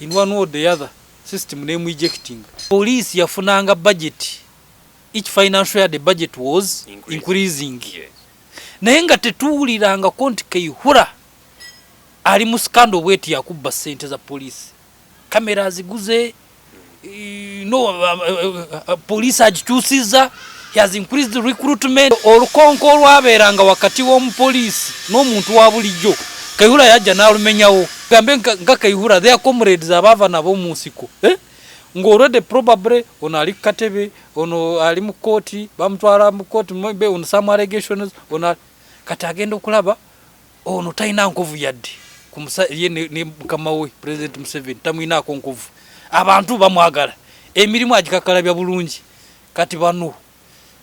in one way or the other system nemu ejectinga. Police yafunanga budget each financial year the budget was increasing, increasing. Yes. naye nga tetuwuliranga ko nti keihura ali mu scandal bweti yakubba sente za police kamera aziguze Eh, no, uh, uh, uh, police agikyusiza he has increased recruitment olukonko olwabeeranga wakati w'omupoliisi n'omuntu wa bulijjo kaihura yajja n'alumenyawo gambe nga kaihura their comrades abaava nabo mu nsiko eh? ng'olwedde probably ono ali ku katebe ono ali mu kooti bamutwala mu kooti maybe on some allegations ono kati agenda okulaba ono talina nkovu yadde ye ne mukama we president museveni tamwinaako nkovu abantu bamwagala emirimu agikakalabya bulungi kati bano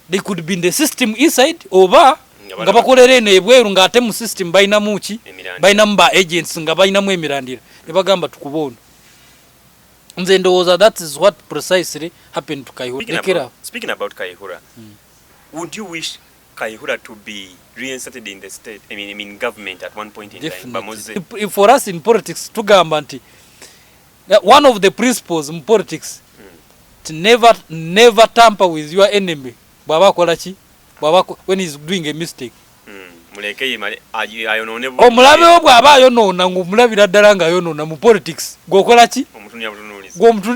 they could be in the system inside oba nga bakolera eno ebweru ng'ate mu system balinamu ki balinamu ba agents nga balinamu emirandira ne bagamba tukuba ono nze ndowooza that is what precisely happened to kaihura speaking about, speaking about kaihura mm. would you wish Kayihura to be reinserted in the state, I mean, I mean government at one point in Definitely. time. Bamuze. If, if for us in politics, tugamba nti, one of the principles in politics, mm. to never, never tamper with your enemy. Baba akola ki? Baba, when he's doing a mistake. Mm. omulabe wo bw'aba ayonoona ng'omulabira ddala ng'ayonoona mu politics gweokola ki gweomutu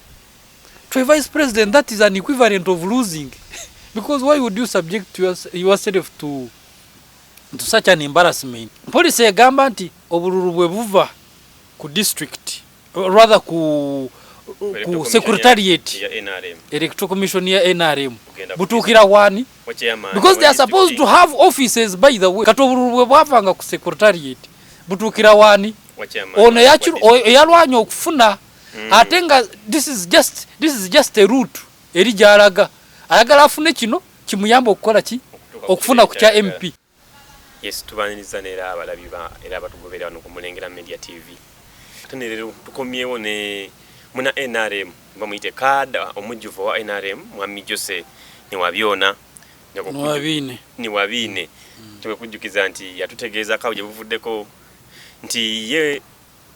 to a vice president that is an equivalent of losing because why would you subject yourself to, to such an embarrassment policy egamba nti obululu bwe buva ku district rather ku ku secretariat electoral commission ya nrm butuukira waani because they are supposed to have offices by the way kati obululu bwe bwavanga ku secretariat butuukira waani ono eyalwanya okufuna mm. ate nga this is just this is just a route eri gyalaga ayagala afune kino kimuyamba okukola ki okufuna ku kya mp yes tubaniriza nera abalabi ba era abatugobera wano ku mulengera media tv ate nerero tukomyewo ne muna nrm bamuyite kaada omujjuvu wa nrm mwami jose newabyona niwabiine niwabiine mm. tebekujjukiza nti yatutegeezako awo gye buvuddeko nti ye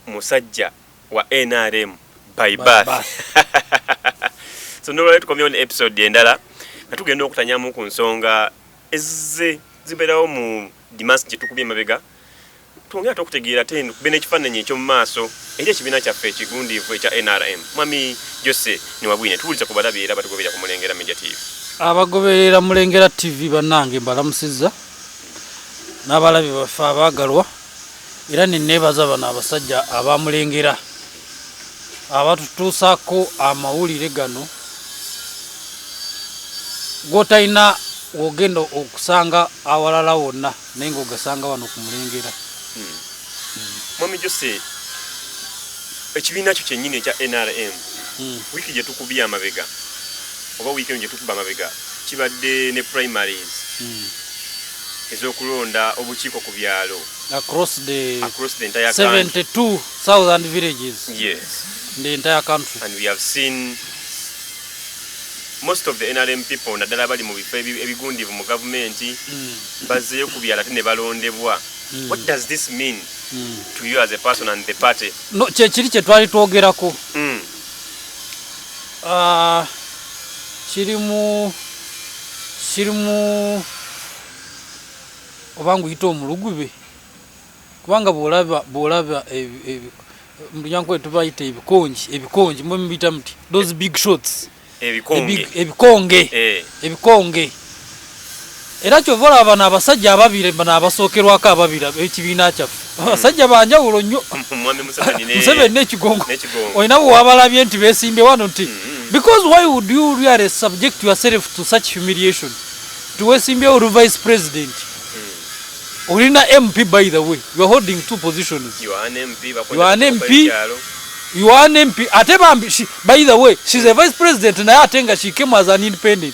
musajja wa nrm by birth so nolwaleo tukomyewo ne episode endala nga tugenda okutanyamu ku nsonga ezze zibeerawo mu dimas gyetukubye emabega twongere ate okutegeera ate kube n'ekifaananyi ekyomu maaso eri ekibiina kyaffe ekigundiivu ekya nrm mwami jose niwabwine tuwuliza ku balabi era batugoberera ku mulengera media tv abagoberera mulengera tv bannange mbalamusizza n'abalabi baffe abaagalwa era neneebaza bano abasajja abamulengera abatutuusaako amawulire gano gwotalina wogenda okusanga awalala wonna naye nga ogasanga wano ku mulengera hmm. mwami jose ekibiina kyo kyennyini ekya nrm hmm. wiiki gye tukubye amabega oba wiiki eno gye tukuba amabega kibadde ne primaries hmm. ezokulonda obukiiko ku byalo across the, across the entire 72,000 villages yes. in the entire country and we have seen most of the nrm people naddala bali mu bifo ebigundivu mu gavumenti mm. bazzeyo ku byalo ate ne balondebwa mm. what does this mean mm. to you as a person and the party no kyekiri kye twali twogerako mm. Ah, kirimu kirimu oba nguyita omulugube kubanga bwolaba bwolaba mulyankuba tubayita ebikongi ebikongi mwe mubiyita muti those big shots ebikonge ebikonge eh. Era kyova olaba bano abasajja ababiri bano abasookerwako ababiri ekibiina kyaffe hmm. abasajja banjawulo nnyo museveni nekigongo olina bwewabalabye nti besimbye wano nti hmm, hmm. because why would you really subject yourself to such humiliation nti wesimbyewo olu vice president olina mp by the way youare holding two positions you are an mp you are an mp ate bambi by the way she's a vice president naye ate nga she came as an independent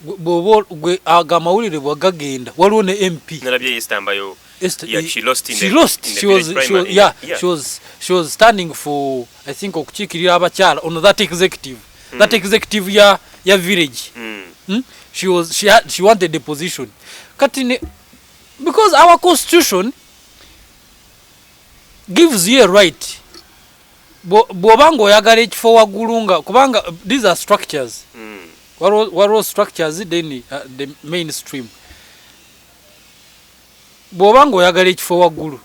bwoba gwe aga amawulire bwagagenda waliwo ne mp was standing for i think okukiikirira abakyala ono that executive mm. that executive ya, ya village mm. Hmm? She, was, she, had, she wanted a position kati ne because our constitution gives you a right bwoba nga oyagala ekifo waggulu nga kubanga these are structures mm. waliwo structures then uh, the main stream bwoba nga oyagala ekifo waggulu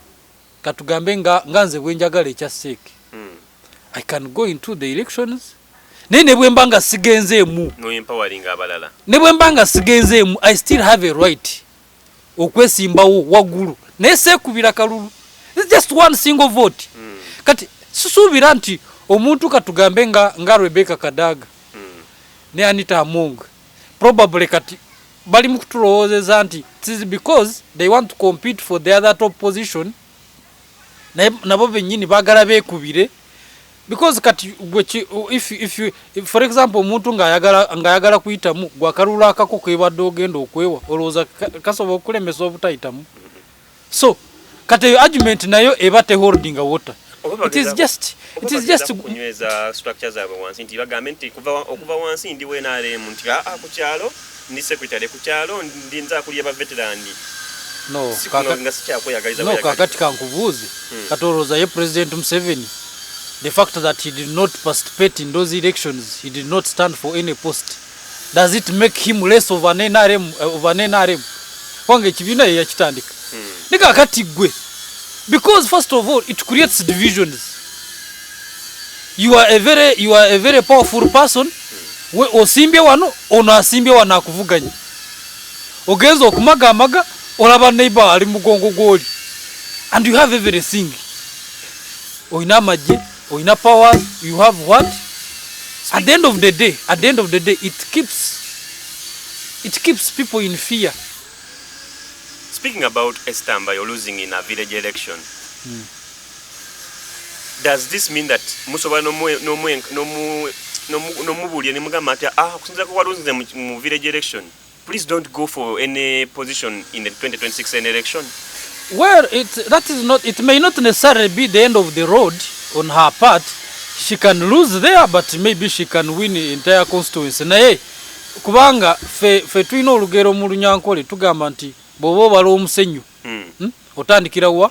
katugambe nga, nga nze bwenjagala ekya seek mm. i can go into the elections naye nebwemba nga sigenzeemu nebwemba nga sigenzeemu i still have a right okwesimbawo waggulu naye seekubira kalulu just one single vote mm. kati sisuubira nti omuntu katugambe nga, nga rebeka kadaga mm. ne anita among probably kati bali mu kutulowoozeza nti tis because they want to compete for the other top position naye nabo bennyini baagala beekubire because kati gwe if, if you, if, for example omuntu ng'ayagala ng'ayagala kuyitamu gwe akalulu akako kebadde ogenda okwewa olowooza kasobola okulemesa obutayitamu so kati eyo argument nayo eba te holding water it is just it is just kunyweza structure zaabwe wansi nti bagambe nti okuva wansi ndi wenaremu nti aa ah, ah, ku kyalo Ndi secretary ku kyalo ndi nze akulye ba veteran. No, kaka, nga sikyakweyagaliza no, kakati kankubuuze hmm. kati olowooza ye president museveni the fact that he did not participate in those elections he did not stand for any post does it make him less of an nrm eh, of an nrm kubanga ekibiina ye yakitandika hmm. ne kakati gwe because first of all it creates divisions you are a very you are a very powerful person we osimbye wano ono asimbye wano akuvuganya ogenza okumaga amaga olaba neighbor ali mugongo gwoli and you have everything oyina amagye oyina power you have what at the end of the day at the end of the day it keeps it keeps people in fear speaking about estamba you're losing in a village election mm. does this mean that musobola nomubuulira nemugamba nti ah okusinzira kuwalunzize mu village election please don't go for any position in the 2026 any election well it, that is not, it may not necessarily be the end of the road on her part she can lose there but maybe she can win entire constituency naye kubanga fe, fe tulina olugero mu lunyankole tugamba nti bwoba obala omusenyu hmm. hmm? otandikira wa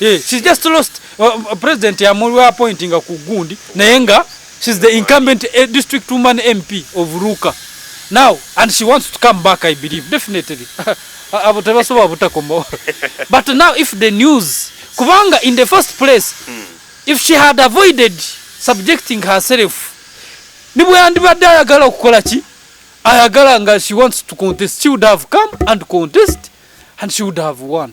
Yeah, she's just lost uh, uh president ya mulwa appointing ku gundi naye nga she's the incumbent uh, district woman MP of Ruka now and she wants to come back I believe definitely abo tebasobola butakomawo but now if the news kubanga in the first place mm. if she had avoided subjecting herself nibwe yandibadde ayagala okukola ki ayagala nga she wants to contest she would have come and contest and she would have won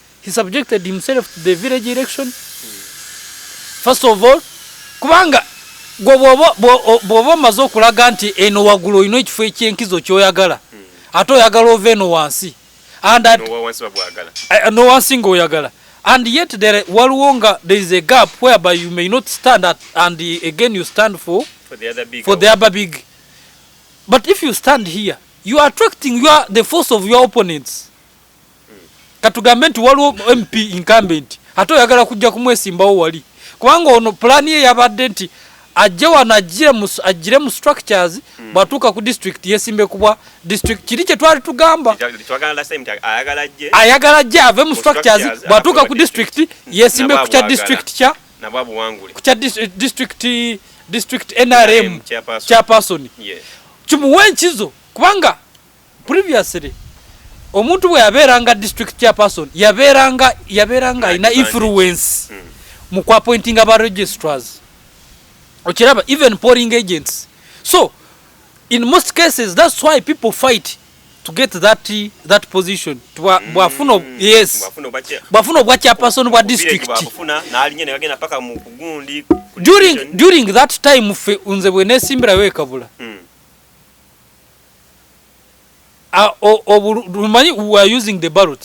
he subjected himself to the village election first of all kubanga gwe bwoba omaze okulaga nti eno waggulu olina ekifo ekyenkizo kyoyagala hmm. ate oyagala ova eno wansi nowansi eh, nga oyagala and yet there waliwo nga there is a gap whereby you may not stand at, and again you stand for for the other big, for the other big. but if you stand here you are attracting your, the force of your opponents katugambe nti waliwo mp incumbent ate oyagala kujja kumwesimbawo wali kubanga ono pulaani ye yabadde nti ajje wano ajjire mu structures hmm. bwatuuka ku district yesimbe kubwa district kiri kye twali tugamba ayagala ajje ave mu structures bwatuuka ku district yesimbe ku kya district kya ku kya eh, district district nrm chairperson kimuwe enkizo kubanga previously omuntu bwe yabeeranga district chairperson yabeeranga yabeeranga alina influence hmm. mu ku appointinga ba registrars okiraba even polling agents so in most cases that's why people fight to get that that position hmm. bwafuna mm, yes bwafuna obwa chairperson bwa district during, during that time fe nze bwenesimbirayo ekabula mm. Ah, o- obulu- tumanyi we are using the ballot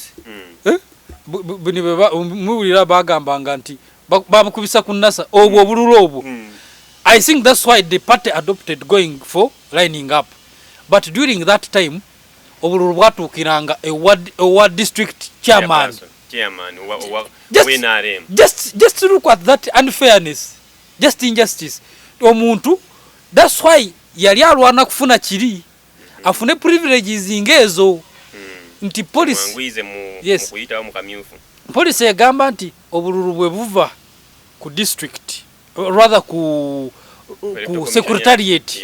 Eh? Bu- bu- buni bwe ba- muwulira bagambanga nti ba- babukubisa ku nasa obwo obululu obwo i think that's why the party adopted going for lining up but during that time obululu bwatuukiranga ewa ewa district chairman chairman wa- wa- Just- wa NRM. just just look at that unfairness just injustice omuntu that's why Yali alwana kufuna kiri afune privileges nga ezo hmm. nti police yes. police egamba nti obululu bwe buva ku district rather ku ku secretariat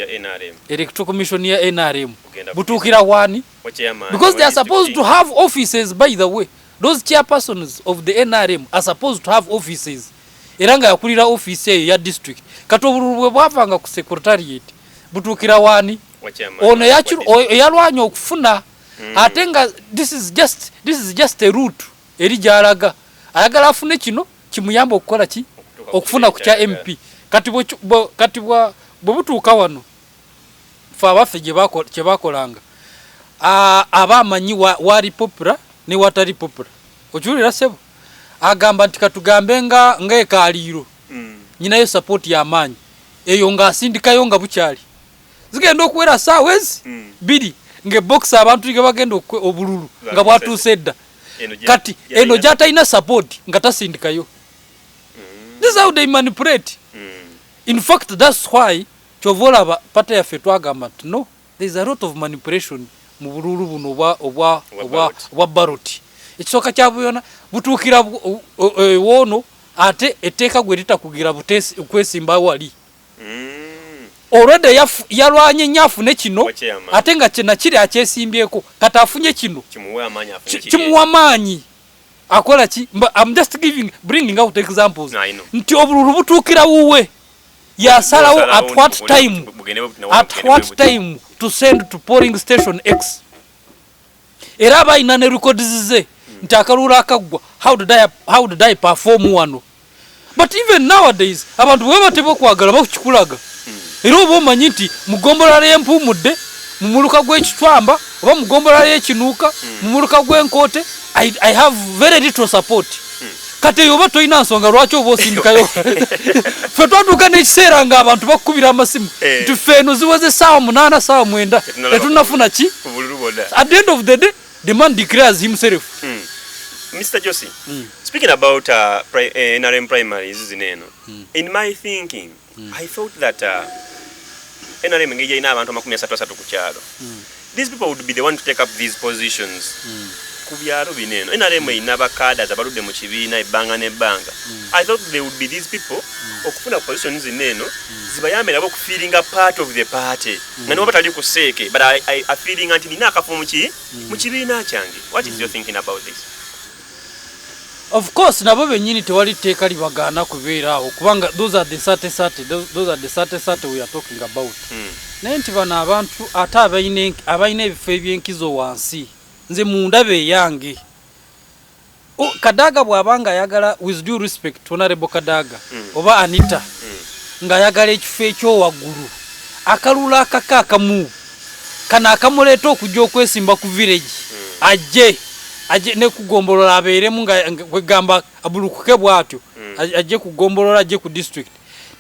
electoral commission ya nrm butuukira wani because they are supposed to have offices by the way those chairpersons of the nrm are supposed to have offices era nga yakulira ofiisi eyo ya district kati obululu bwe bwavanga ku secretariat butuukira waani ono eyalwanya okufuna mm. ate nga this is just, this is just a root eri gyalaga ayagala afune kino kimuyamba okukola ki okufuna ku kya mp kati kati bwe butuuka wano fe abaffe kyebakolanga aba amanyi wali popula ne watali popula okiwulira sebo agamba nti katugambe nga nga ekaliiro mm. nyinayo sapooti yamaanyi eyo ngaasindikayo nga bukyali zigenda okuwera saawa ezi mm. biri ngaebokisi abantu ge bagenda obululu nga bwatuuse edda kati eno gyatalina sapooti nga tasindikayo mm. this how they manipulate mm. in fact thats why kyova olaba pata yaffe twagamba nti no There is a lot of manipulation mu bululu buno obwa obwa obwa obwa ballot. Ekisooka kya buyona butuukira e, woono ate etteeka gwe litakugira butesi kwesimba wali. Mm. Already yaf, yalwanye nnyo afune kino ate nga kina kiri akyesimbyeko kati afunye kino kimuwa amaanyi akola ki I'm just giving bringing out examples no, nti obululu butuukira wuwe yasalawo at what time at what time to send to polling station x era abalina ne records ze nti akaluulu akaggwa how did i, how did I perform wano but even nowadays abantu bwe bateba okwagala bakukikulaga era oba omanyi nti mugombola lyempuumudde mu muluka gw'ekitwamba oba mugombola ly'ekinuuka mu muluka gw'enkoote I, i have very little support kati eyo oba tolina nsonga lwaki oba osindikayo fe twatuuka n'ekiseera nga abantu bakukubira amasimu eh. nti fe eno ziweze saawa munaana saawa mwenda tetunafuna ki at the end of the day the man declares himself hmm. mr josi hmm. speaking about uh, eh, nrm primaries zino eno hmm. in my thinking mm. i thought that uh, nrm engeri yalina abantu amakumi asatu asatu ku kyalo mm. these people would be the one to take up these positions mm. ku byalo bino eno nrm mm. erina bakadas abaludde mu kibiina ebbanga n'ebbanga mm. i thought they would be these people mm. okufuna position zino eno mm. zibayambe nabo okufiiringa part of the party mm. nga nibo batali ku seeke but afiiringa nti nina akafumu ki mm. mu kibiina kyange what is mm. your thinking about this Of course nabo benyini tewali tteeka libagaana kubeera awo kubanga those are the sate sate those are the sate sate we are talking about hmm. naye nti bano abantu ate abalina ebifo ebyenkizo wansi nze mundaba eyange kadaga bwaba nga ayagala with due respect honorable kadaga hmm. oba anita hmm. ng'ayagala ekifo ekyowaggulu akalula akaka akamu kano akamuleeta okujja okwesimba ku village hmm. ajje ajje ne kugombolola abeeremu nga kwegamba abulukuke bwatyo hmm. ajje kugombolola ajje ku district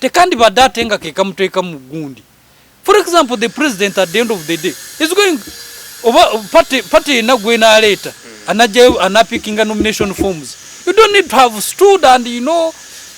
tekandi badde ate nga kekamuteeka mu gundi for example the president at the end of the day is going oba party party yenna gwenaaleeta hmm. anajjayo anapikinga nomination forms you don't need to have stood and you know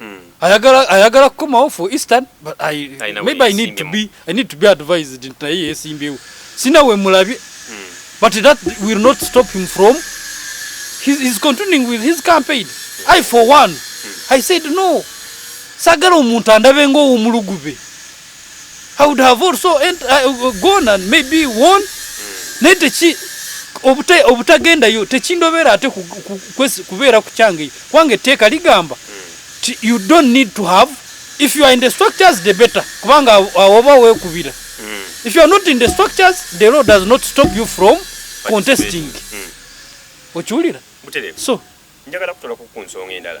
Mm. ayagala ayagala kukomawo for eastern but I, Ayina maybe I need to weyeesimbyewo. be I need to be advised nti naye yeesimbyewo sina we mulabye Mm. but that will not stop him from he's, he's continuing with his campaign I for one I said no sagala omuntu andabe ng'owomulugube I would have also ent- uh, uh, gone and maybe won naye teki obuta- obutagendayo tekindobera ate ku- ku- kwesi- kubeera ku kyange eyo kubanga etteeka ligamba ti you don't need to have if you are in the structures the better kubanga awo- awo oba weekubira if you are not in the structures the law does not stop you from contesting Mm. okiwulira butereevu so njagala kutolako ku nsonga endala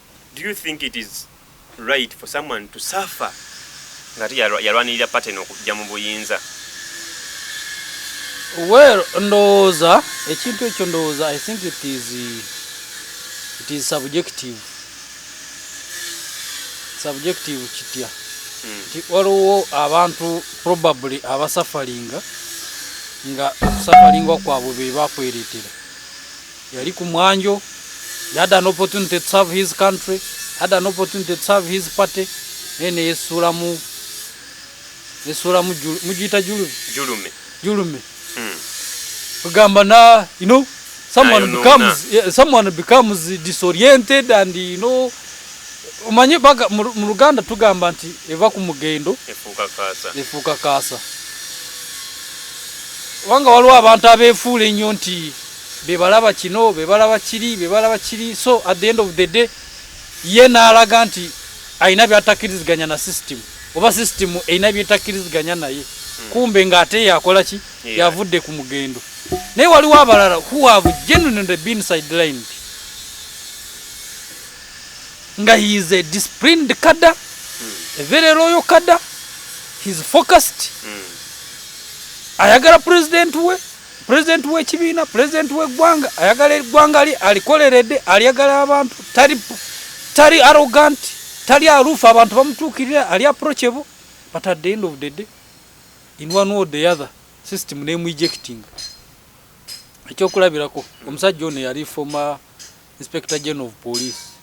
Do you think it is right for someone to suffer ngate yalwanirira paten okujja mu buyinza well ndowooza ekintu ekyo ndowooza i think it is, it is subjective subjective kitya hmm. nti mm. waliwo abantu probably abasafalinga nga okusafalinga kwabwe bebakweretera Yali ku mwanjo, he had an opportunity to serve his country, had an opportunity to serve his party, naye neyesuulamu nesuulamu mugiyita julume julume julume hmm. kugamba na you know someone Ayo becomes no, yeah, someone becomes disoriented and you know umanye baga mu Ruganda tugamba nti eva ku mugendo efuuka kaasa efuuka kaasa wanga waliwo abantu abefuula ennyo nti bebalaba kino bebalaba kiri bebalaba kiri so at the end of the day ye naalaga nti alina byatakiriziganya na system oba system erina byetakiriziganya naye hmm. kumbe ngaate yakola ki yavudde ku mugendo naye waliwo abalala who have genuinely been sidelined nga he is a disciplined kada hmm. a very loyal kada he is focused hmm. ayagala president we President w'ekibiina, president w'eggwanga, ayagala eggwanga lye alikoleredde, alyagala abantu, tali tali arrogant, tali aluufu, abantu bamutuukirira, ali approachable, but at the end of the day, in one way or the other, system name ejecting. Ekyokulabirako, omusajja ono yali former inspector general of police.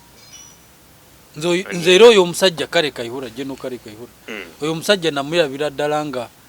Nze era oyo omusajja kale Kayihura, General kale Kayihura, hmm. oyo omusajja namulabira ddala nga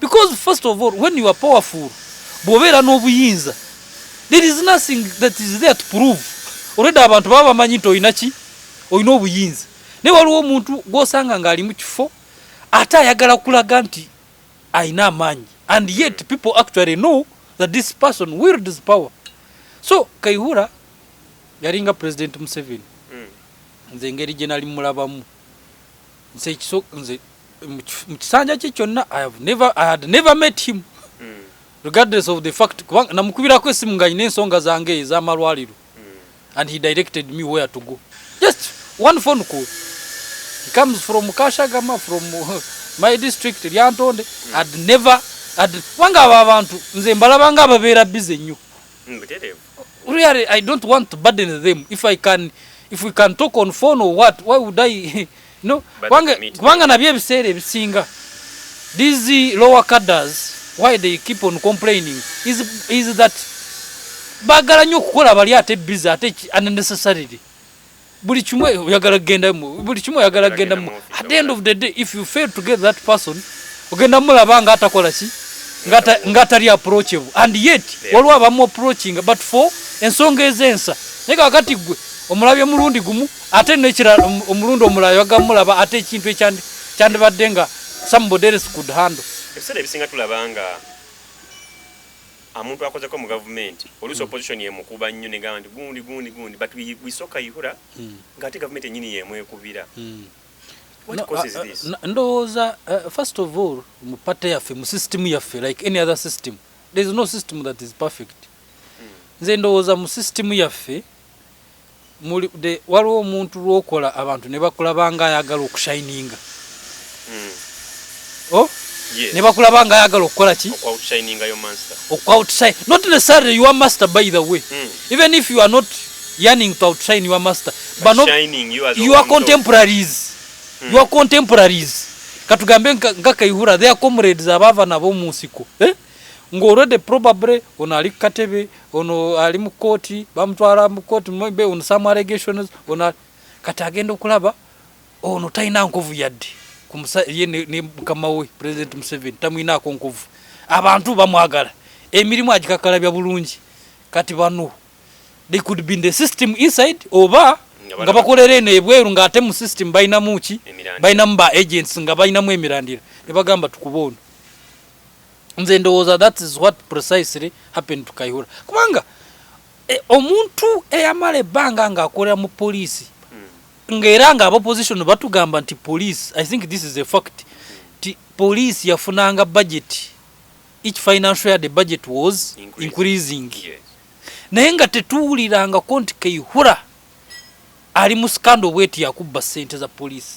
because first of all when you are powerful bwobeera n'obuyinza there is nothing that is there to prove already abantu baba bamanyi nti olina ki olina obuyinza naye waliwo omuntu gwosanga ng'ali mu kifo ate ayagala kulaga nti alina amaanyi and yet people actually know that this person wields power so kaihura yalinga president museveni mm. nze engeri gye nali mulabamu nze ekiso nze mu kisanja kye kyonna i have never i had never met him mm. regardless of the fact kubanga namukubirako esimu nga alina ensonga zange ezamalwaliro mm. and he directed me where to go just one phone call he comes from kashagama from my district lyantonde mm. had never had kubanga abo abantu nze mbalabanga ababeera bize nnyo mm, really I don't want to burden them if I can if we can talk on phone or what why would I no kubanga kubanga nabye ebiseera ebisinga these lower cadres why they keep on complaining is is that bagala nyo kukola bali ate busy ate unnecessarily buli kimu oyagala kugenda buli kimu oyagala kugenda mu at the end of the day if you fail to get that person ogenda mulaba nga atakola ki nga atali approachable and yet waliwo abamu approachinga but for ensonga ezensa naye kakati gwe omulabye mulundi gumu ate nekirala omulundi omulala yaga mulaba ate ekintu ekyandibadde nga somebody else could handle ebiseera ebisinga tulaba nga amuntu akozeko mu gavumenti oluusi mm. opposition yemukuba nnyo negamba nti gundi gundi gundi but we, we so kaihura mm. ngaate gavumenti enyini yemwekubira mm. No, uh, uh, ndowooza uh, first of all mu pate yaffe mu system yaffe like any other system there is no system that is perfect mm. nze ndowooza mu system yaffe mulibde waliwo omuntu lwokola abantu nebakulaba nga ayagala okushininga hmm. oh? nebakulaba nga ayagala okukola ki not necessarily your master by the way mm. even if you are not yearning to outshine your master but not you are your contemporaries mm. your contemporaries katugambe nga kaihura their comrades abava nabo mu nsiko eh? nga already probably ono ali kukatebe ono ali mu kooti bamutwala mu kooti maybe on some allegations ono kati agenda okulaba ono talina nkovu yadde ye ne mukama we president museveni tamwinaako nkovu abantu bamwagala emirimu agikakalabya bulungi kati bano they could be in the system inside oba nga bakolera eno ebweru nga ate mu system balinamu ki balinamu ba agents nga balinamu emirandira ne bagamba tukuba ono nze ndowooza that is what precisely happened to kaihura kubanga eh, omuntu eyamala ebbanga nga akolera mu poliisi hmm. ngaera nga abaposition batugamba nti police i think this is a fact nti police yafunanga budget each financial year the budget was increasing, increasing. Yes. naye nga tetuwulirangako nti kaihura ali mu sikando bweti yakubba sente za poliisi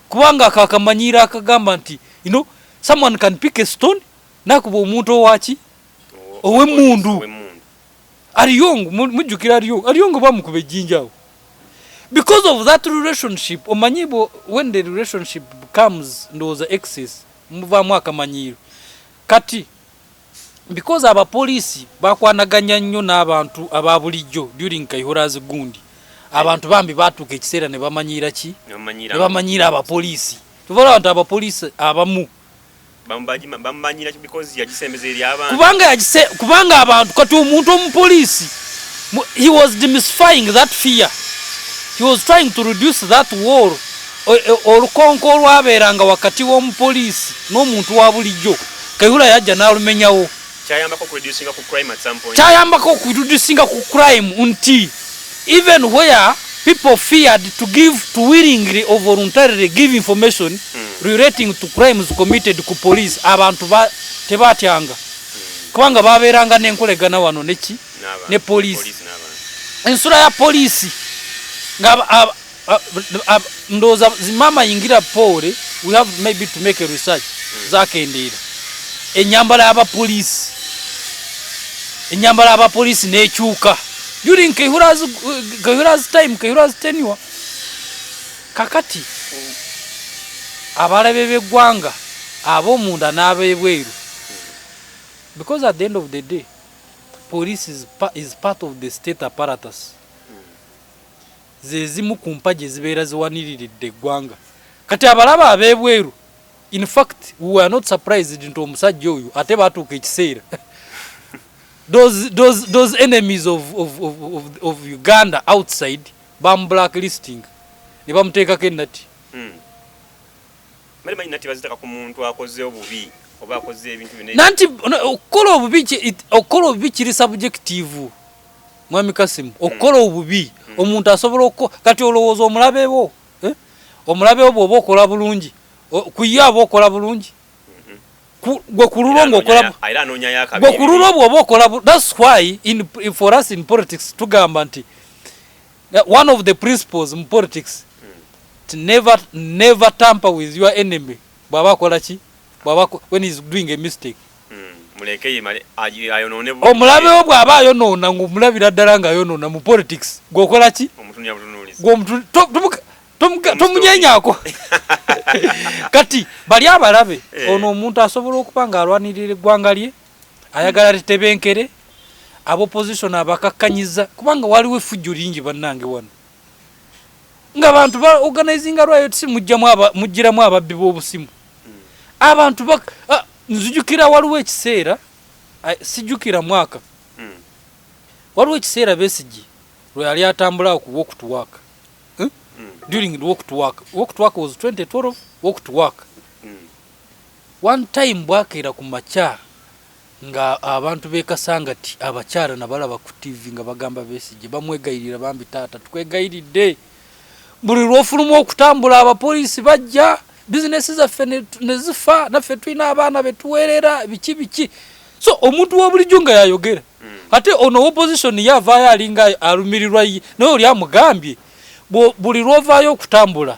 kubanga ako akamanyiiro akagamba nti you know, someone can pick a stone nakuba omuntu owaki owemundu ariyong mujjukira ariyong ariyong bamukuba ejjinja awo because of that relationship omanyi when the relationship comes ndowooza excess muvaamu akamanyiiro kati Because aba police bakwanaganya nnyo n'abantu aba bulijjo during Kayihura's gundi. Abantu bambi batuuka ekiseera ne bamanyiira ki? Ne bamanyiira aba police. Kyova olaba nti aba police abamu bamumanyira because yagisembeza eri abantu. Kubanga yagise kubanga abantu kati omuntu omu police he was demystifying that fear. He was trying to reduce that war. Olukonko olwabeeranga wakati w'omupoliisi n'omuntu wa bulijjo. Kayihura yajja n'alumenyawo. Kyayambako okureducinga ku crime at some point. Kyayambako okureducinga ku crime nti even where people feared to give to willingly or voluntarily give information mm. relating to crimes committed ku police abantu ba tebatyanga mm. kubanga babeeranga n'enkolegana wano neki ne police ensula ya poliisi nga Ah, ah, ndowooza zimama yingira poole we have maybe to make a research hmm. zakendeera enyambala yabapoliisi enyambala yabapoliisi nekyuka during kehura's, kehura's time kehura's tenure kakati hmm. abalabe beggwanga abomunda n'abebweru hmm. because at the end of the day police is, pa, is part of the state apparatus zezimu ku mpagi ezibeera ziwaniriridde eggwanga kati abalaba ab'ebweru in fact we were not surprised nti omusajja oyo ate baatuuka ekiseera those, those, those enemies of, of, of, of, of uganda outside bamublacklisting ne bamuteekako ennati mm. nanti okukola obubi okukola obubi kiri subjective mwami kasimu okukola hmm. obubi hmm. omuntu asobola okuko kati olowooza omulabewo eh? omulabewo bwoba okola bulungi kuye aba okola bulungi hmm. gwe kululwo ngaokolagwe kululwo bwoba okola thats why in, for us in politics tugamba nti One of the principles mu politics to never never tamper with your enemy bwaba akola ki bwaba when is doing a mistake omulabewo bw'aba ayonoona ng'omulabira ddala ng'ayonoona mu politics gweokola ki tomunyenyako kati bali abalabe eh. ono omuntu asobola okuba ng'alwanirira eggwanga lye ayagala litebenkere abopposition abakakkanyiza kubanga waliwo effujjo lingi bannange wano nga bantu ba organizinga riot si mujjiramu ababbi b'obusimu abantu ah, nzijukira waliwo ekiseera sijukira mwaka hmm. waliwo ekiseera besigi lwe yali atambula ku walk to work hmm? Hmm. during the walk to work walk to work was 2012 walk to work One time bwakeera ku makya nga abantu be Kasangati abakyala nabalaba ku TV nga bagamba Besigye bamwegayirira bambi taata tukwegayiridde buli lwofuluma okutambula abapoliisi bajja bizinesi zaffe nezifa naffe tulina abaana betuwerera biki biki so omuntu wabulijjo nga yayogera mm. ate ono opposition ye avaayo alinga alumirirwa ye naye oli amugambye buli lwovaayo okutambula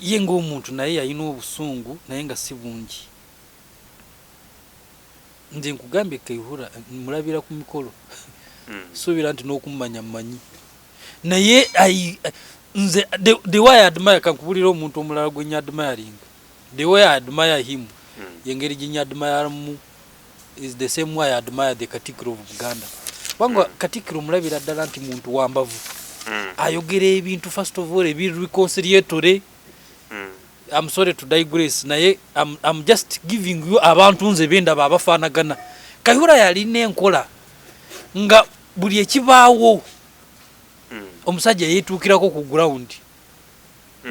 Ye ng'omuntu naye yalina obusungu naye nga si bungi. Nze nkugambye Kayihura mmulabira ku mikolo. Sisuubira nti n'okummanya mmanyi. Naye I, nze the, the way I admire, kankubulire omuntu omulala gwe nnyo admiring. The way I admire him, y'engeri gye nnyo admireamu is the same way I admire the Katikkiro of Buganda kubanga mm. Katikkiro mulabira ddala nti muntu wa mbavu mm. ayogera ebintu first of all ebi reconciliatory mm. I'm sorry to digress naye I'm, I'm just giving you abantu nze bendaba abafaanagana Kayihura yalina enkola nga buli ekibaawo mm. omusajja yeetuukirako ku ground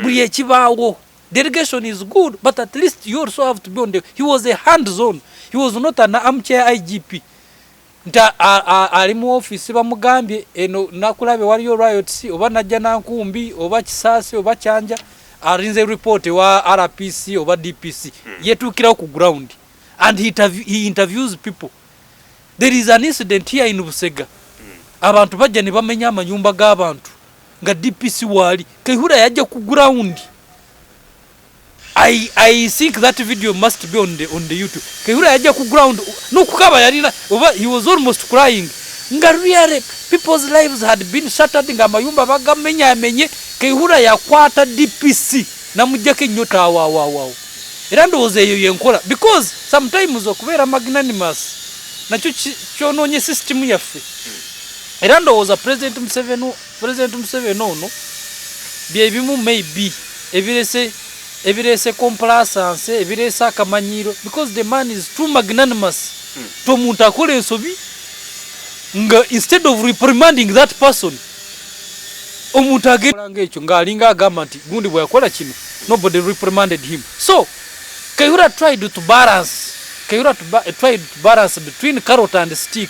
buli ekibaawo delegation is good but at least you also have to be on the he was a hand zone he was not an armchair igp nti ali mu office bamugambye eno nakulabe waliyo riots oba najja nankumbi oba kisaasi oba kyanja arinze report wa rpc oba dpc hmm. yetuukirawo ku ground and he, he interviews people there is an incident here in busega hmm. abantu bajja ne bamenya amanyumba g'abantu nga dpc waali kaihura yajja ku ground I, I think that video must be on the, on the YouTube. Kehura yaja ku ground no kukaba yalina over he was almost crying. Nga really people's lives had been shattered nga mayumba bagamenya amenye Kehura yakwata DPC na mujake nyota wa wa wa. Era ndo oze yo yenkola because sometimes okubera magnanimous nacho chononye system yaffe. era ndowooza president museveni president museveni ono byebimu maybe ebirese ebirese complasanse ebirese akamanyiiro because the man is too magnanimous hmm. to omuntu akola ensobi nga instead of reprimanding that person omuntu ageanga ekyo ngaalinga agamba nti gundi bweyakola kino nobody reprimanded him so kayura tried to balance kayura tried to balance between carrot and stick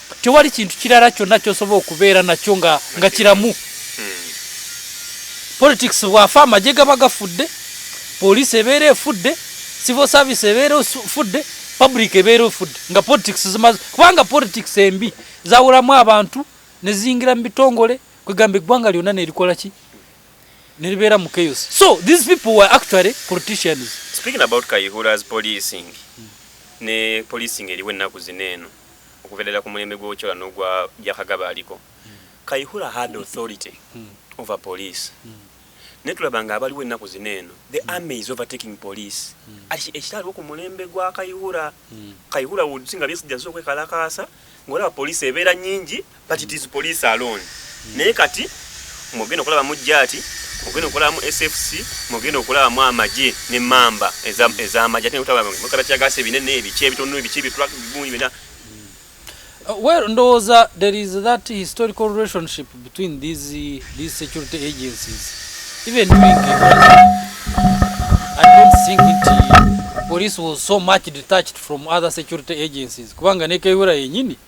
tewali kintu kirala kyonna kyosobola okubeera nakyo nga nga kiramu politics bwafa amagye gaba gafudde poliisi ebeera efudde civil service ebeera efudde public ebeera efudde nga politics zimaze kubanga politics embi zawulamu abantu neziyingira mu bitongole kwegamba eggwanga lyonna nerikola ki neribeera mu chaos so these people were actually politicians speaking about kayihura's policing ne policing eriwo ennaku zino eno okuva ddala ku mulembe gw'Ochola n'ogwa Byakagaba aliko, Kayihura had authority over police. Naye tulaba nga abaliwo ennaku zino eno, the army is overtaking police. Ati ekitaliwo ku mulembe gwa Kayihura, Kayihura would see nga Besigye azze okwekalakaasa, ng'olaba police ebeera nnyingi but it is police alone mm. naye kati mugenda okulaba mu jati mugenda okulaba mu sfc mugenda okulaba mu amaje ne mamba ezamaje ate nekutabamukabe kyagasa ebinene ebiki ebitonu ebiki ebitulak bibuni bina uh, well ndowooza there is that historical relationship between these, these security agencies even i don't think it police was so much detached from other security agencies kubanga nekeyura yenyini yeah.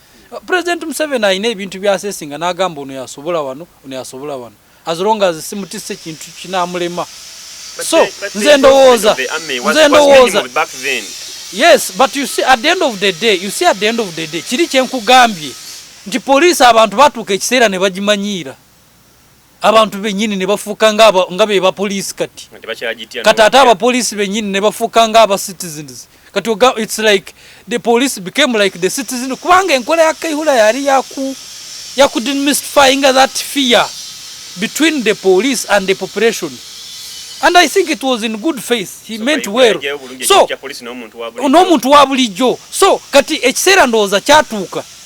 President Museveni alina ebintu byasesinga n'agamba ono yasobola wano ono yasobola wano as long as simutisse kintu kinamulema so nze ndowooza nze ndowooza yes but you see at the end of the day you see at the end of the day kiri kyenkugambye nti poliisi abantu batuuka ekiseera ne bagimanyiira abantu benyini ne bafuuka nga be bapoliisi kati kati ate abapoliisi benyini ne bafuuka nga aba citizens kati oga its like the police became like the citizen kubanga enkola ya kaihula yali yaku yakudemystifyinga that fear between the police and the population and i think it was in good faith he so meant well so n'omuntu wa bulijjo so kati ekiseera ndowooza kyatuuka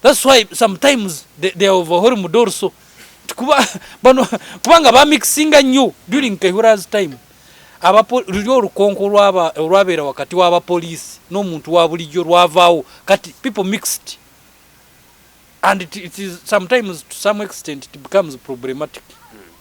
That's why sometimes they, they are overhauling Mudorso. Kuba, bano, kubanga ba mixinga nnyo during Kayihura's time. Abapo, lulio lukonko lwaba, lwabera wakati waba police, no muntu wabulijyo lwavao, kati people mixed. And it, it is sometimes to some extent it becomes problematic.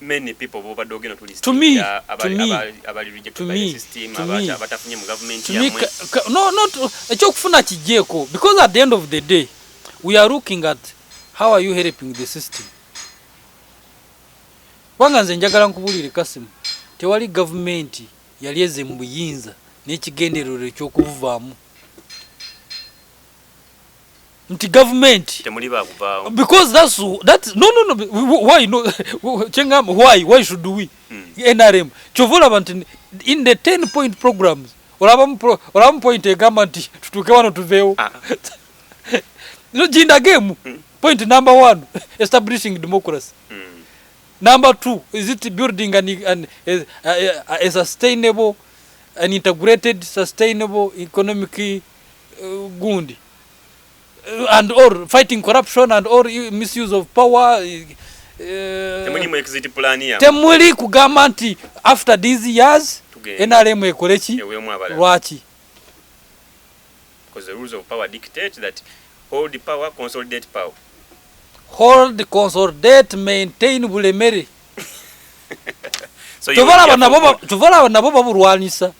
many people bobadde ogenda tulistingira abali rejected by the system abatafunye mu government yamwe no no ekyokufuna kijeko because at the end of the day we are looking at how are you helping the system wanga nze njagala nkubulire kasimu tewali gavumenti yali eze mu buyinza n'ekigendererwa eky'okubuvaamu nti gavumenti temuli bakuvaawo because that's that no no no why no kyengamba why why should we mm. nrm kyova olaba nti in the 10 point programs olabamu olabamu point egamba nti tutuuke wano tuveewo ah. no jindagemu mm. point number one establishing democracy mm. number two is it building an, an, a, a, a, a sustainable an integrated sustainable economic uh, gundi uh, and or fighting corruption and or misuse of power uh, temuli kugamba nti after these years nrm ekoleki lwaki hold power consolidate power hold consolidate maintain bulemere so tuvala nabo babulwanisa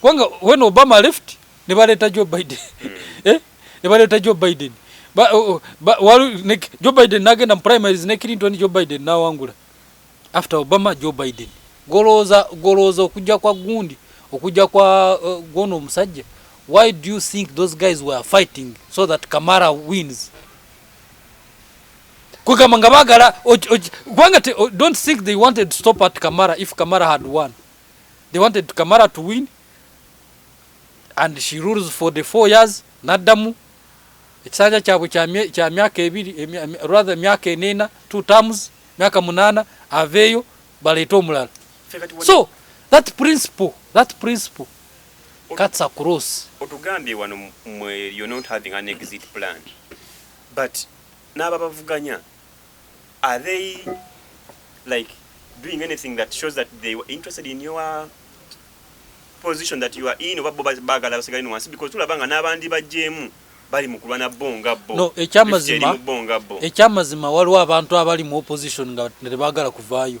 kubanga when obama left nebaleeta joe biden hmm. eh? nebaleeta joe biden oh, oh, joe biden nagenda mu primaries ne clinton joe biden nawangula after obama joe biden golooza golooza okujja kwa gundi okujja kwa uh, gwono omusajja why do you think those guys were fighting so that kamara wins kwegamba nga bagala kubanga don't think they wanted to stop at kamara if kamara had won They wanted Kamala to win and she rules for the four years naddamu ekisanja kyabwe kya myaka ebiri rather myaka enena two terms myaka munana aveeyo baleete omulala so that principle that principle cuts across otugambye wano mwe you're not having an exit plan but n'ababavuganya are they like doing anything that shows that they were interested in your position that you are in oba bo bagala basigale no wansi because tulaba nga n'abandi bajjeemu bali mu kulwana bo nga bo no ekyamazima ekyamazima waliwo abantu abali mu opposition nga tebagala kuvaayo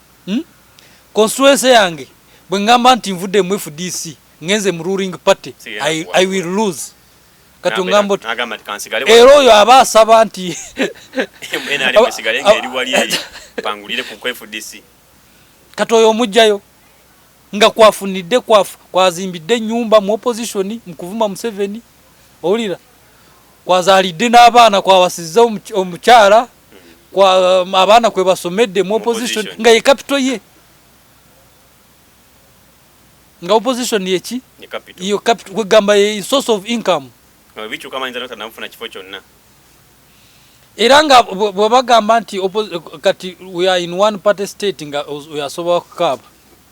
Uhmm constituency yange bwengamba nti nvudde mu fdc ngenze mu ruling party I, I will lose kati ongamba oti era oyo aba asaba nti kati oyo omugjayo nga kwafunidde kwazimbidde enyumba mu opposition mukuvuma museveni owulira kwazalidde n'abaana kwawasizza omukyala Um, abaana kwe basomedde mu opposition nga ye capital ye nga opposition yeki iyo capital kwegamba ye source of income era nga bwebagamba nti kati we are in one party state nga oyasobola kukaaba